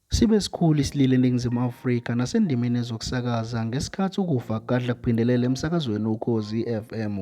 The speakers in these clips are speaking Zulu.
Sibe sikhulu isililo eNingizimu Afrika nasendimeni yezokusakaza ngesikhathi ukufa kugadla kuphindelela emsakazweni Ukhozi FM.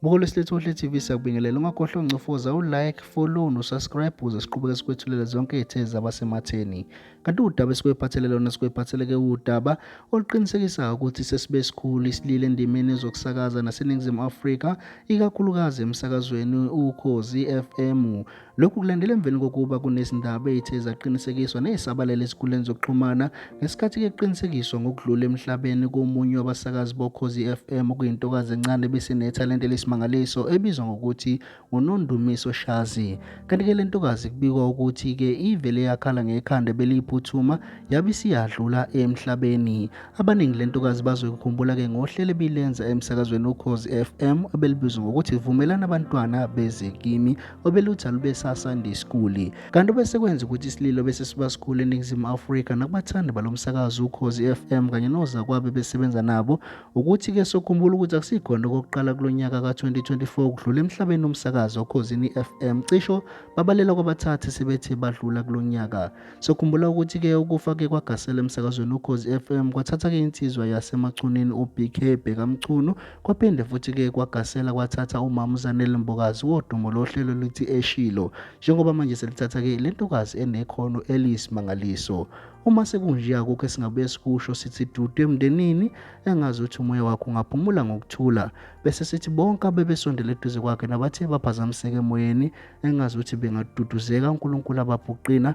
Buka olwesilethu Ohle TV siyakubingelela ungakhohlwa uncofoza u-like, follow no-subscribe ukuze siqhubeke sikwethulele zonke izithe zabasematheni. Kanti udaba esikwephathele lona sikwephatheleke udaba oluqinisekisayo ukuthi sesibe sikhulu isilile endimeni yezokusakaza naseNingizimu Afrika ikakhulukazi emsakazweni Ukhozi FM. Lokhu kulandela emveni kokuba kunezindaba ezithe zaqinisekiswa nezisabalele ezinkundleni zokuxhumana ngesikhathi kuqinisekiswa ngokudlula emhlabeni komunye wabasakazi boKhozi FM okuyintokazi encane ebisinethalente lesimangaliso ebizwa ngokuthi nguNondumiso Shazi. Kanti-ke le ntokazi kubikwa ukuthi-ke ivele yakhala ngekhanda beliyiphuthuma yabe isiyadlula emhlabeni. Abaningi le ntokazi bazoyikhumbula-ke ngohlelo ebilenza emsakazweni uKhozi FM ebelibizwa ngokuthi Vumelani Abantwana Beze Kimi obelutha lube saSunday School kanti obesekwenza ukuthi isililo bese siba sikhulu eNingizimu Afrika nakubathandi balo msakazi uKhozi FM kanye nozakwabe besebenza nabo ukuthi ke sokhumbula ukuthi akusikhona okokuqala kulo nyaka ka-2024 kudlula emhlabeni umsakazi oKhozini FM cisho babalela kwabathathe sebethe badlula kulo nyaka sokhumbula ukuthi ke ukufa ke kwagasela emsakazweni uKhozi FM kwathatha ke insizwa yasemachunini uBK Bhekamchunu Kwaphinde futhi ke kwagasela kwathatha umama uZanele Mbokazi wodumo lohlelo lithi Eshilo njengoba manje selithatha ke lentokazi enekhono eliyisimangaliso. Uma sekunje akukho esingabuye sikusho sithi dudu emndenini engazi ukuthi umoya wakho ungaphumula ngokuthula bese sithi bonke abebesondele eduze kwakhe nabathe baphazamiseke emoyeni engazi ukuthi bengaduduzeka uNkulunkulu abaphuqina